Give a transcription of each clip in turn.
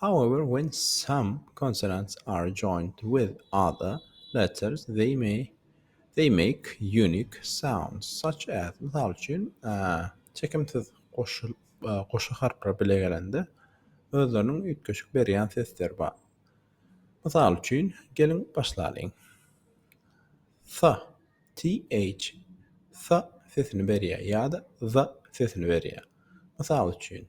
However, when some consonants are joined with other letters, they may they make unique sounds, such as, mysal üçin, çekimsiz goşul goşa harplar bile gelende, özleriniň üýtgeşik berýän sesleri bar. Mysal üçin, geliň, başlalyň. Th, th, th sesini berýär ýa-da za sesini berýär. Mysal üçin.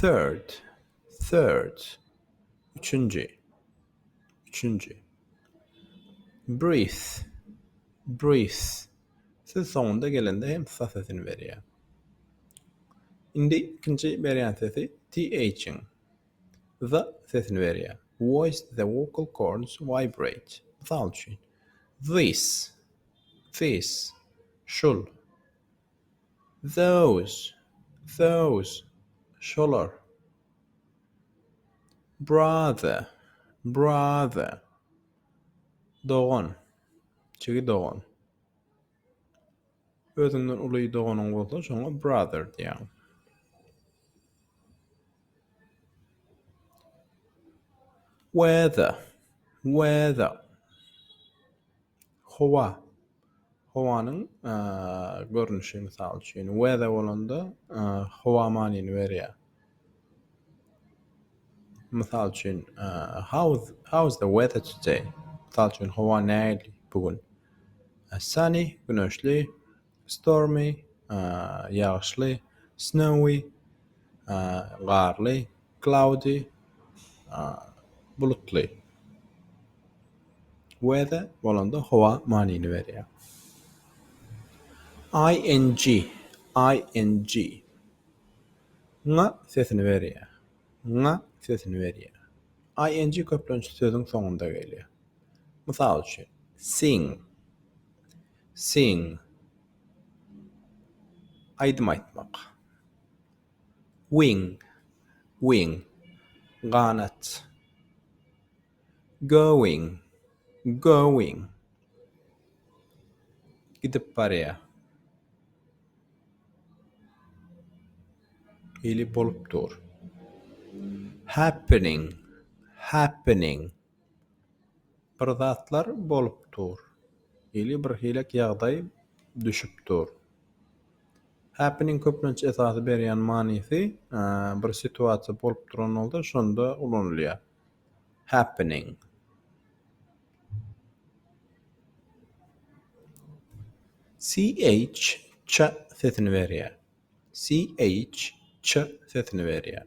Third, third. Üçünji, üçünji. Breath, breath. Siz soňunda gelende hem sa sesini berýär. Indi ikinji berýän sesi th-iň the sesini berýär. Voice the vocal cords vibrate. Mysal üçin, this, this, şul. Those, those, şolar. Brother, brother, dogan, jigi dogan. Özüňden uly doganyň bolsa, şoňa brother diýýäň. Weather, weather, Howa. Howanyň görnüşi, mysal üçin, weather bolanda, howa manyny berýär. Mysal üçin, how is how is the weather today? Mysal üçin, howa nähili bu gün? Sunny, güneşli, Stormy, ýagyşly, Snowy, garly, Cloudy, bulutly, Weather bolanda howa manyny berýär. Ing, ing, ng sesini berýär, ňňa sesini berýär. Ing köplenç sözüň soňunda gelýär. Mysal üçin, Sing. Sing. Aýdym aýtmak. Wing. Wing. Ganat. Going. Going. Gidip barýar. Ili bolup dur. Happening. Happening. Bir zatlar bolup dur. Ili bir hilek ýagdaý düşüp dur. Happy-niň köplenç esasy berýän manysy bir situasiýa bolup duran bolsa şonda ulanylýar. Happening. CH, ç sesini berýär. CH, ç sesini berýär.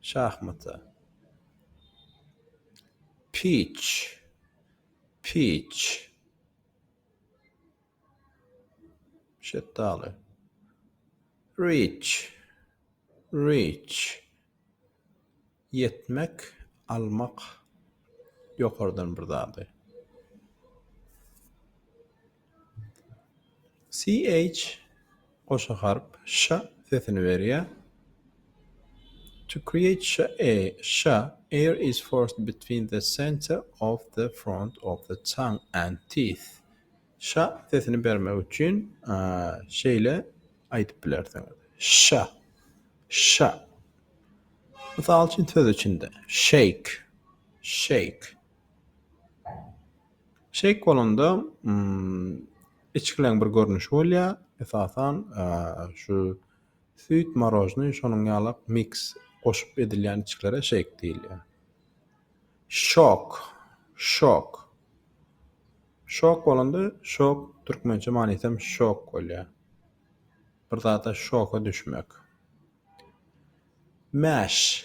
Şahmata. Piç. Piç. Şetdaly. Reach. Reach. Ýetmek, almak, ýokardan bir zady. CH goşa harp ş sesini berýär. To create sh a sh air is forced between the center of the front of the tongue and teeth. Sh sesini bermek üçin şeýle aýdyp bilersiňiz. Sh sh. Mysal üçin söz içinde shake shake. Şeýk bolanda içgileň bir görnüşi bolýar. Esasan şu süýt, marožnyý, şonuň ýalak miks goşup edilýän içgilere şeýk diýilýär. Şok, şok. Şok bolanda şok türkmençe manysy hem şok bolýar. Bir zada şoka düşmek. Mäş,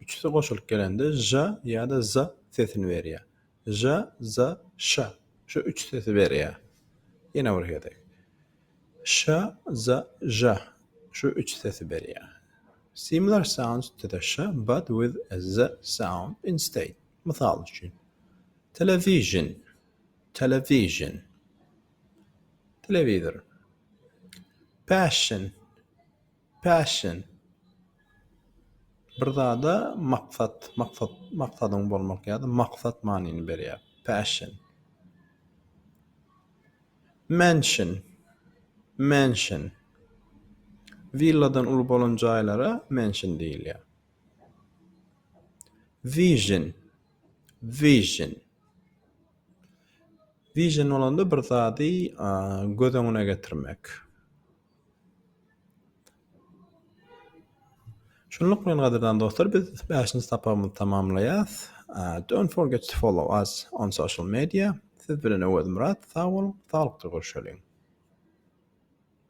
Üçüsi goşulyp gelende ž ýa-da z sesini berýär. Ž, z, ş. Şu üç sesi berýär. Ýene bir gezek. Ş, z, ž. Şu üç sesi berýär. Similar sounds to the sh but with a z sound instead. Mysal üçin. Television, television. Telewizor. Passion, Passion. Bir zada maksat, maksat, maksadyň bolmak ýa-da maksat manyny berýär. Passion. Mansion. Mansion. Willadan uly bolan jaýlara mansion diýilýär. Vision. Vision. Vision bolanda bir zady göz öňüne getirmek. Şunluk bilen gadyrdan dostlar biz bäşinji sapagymyzy tamamlaýas. Don't forget to follow us on social media. Siz bilen Öwezmyrat sag boluň, saglykda görşeliň.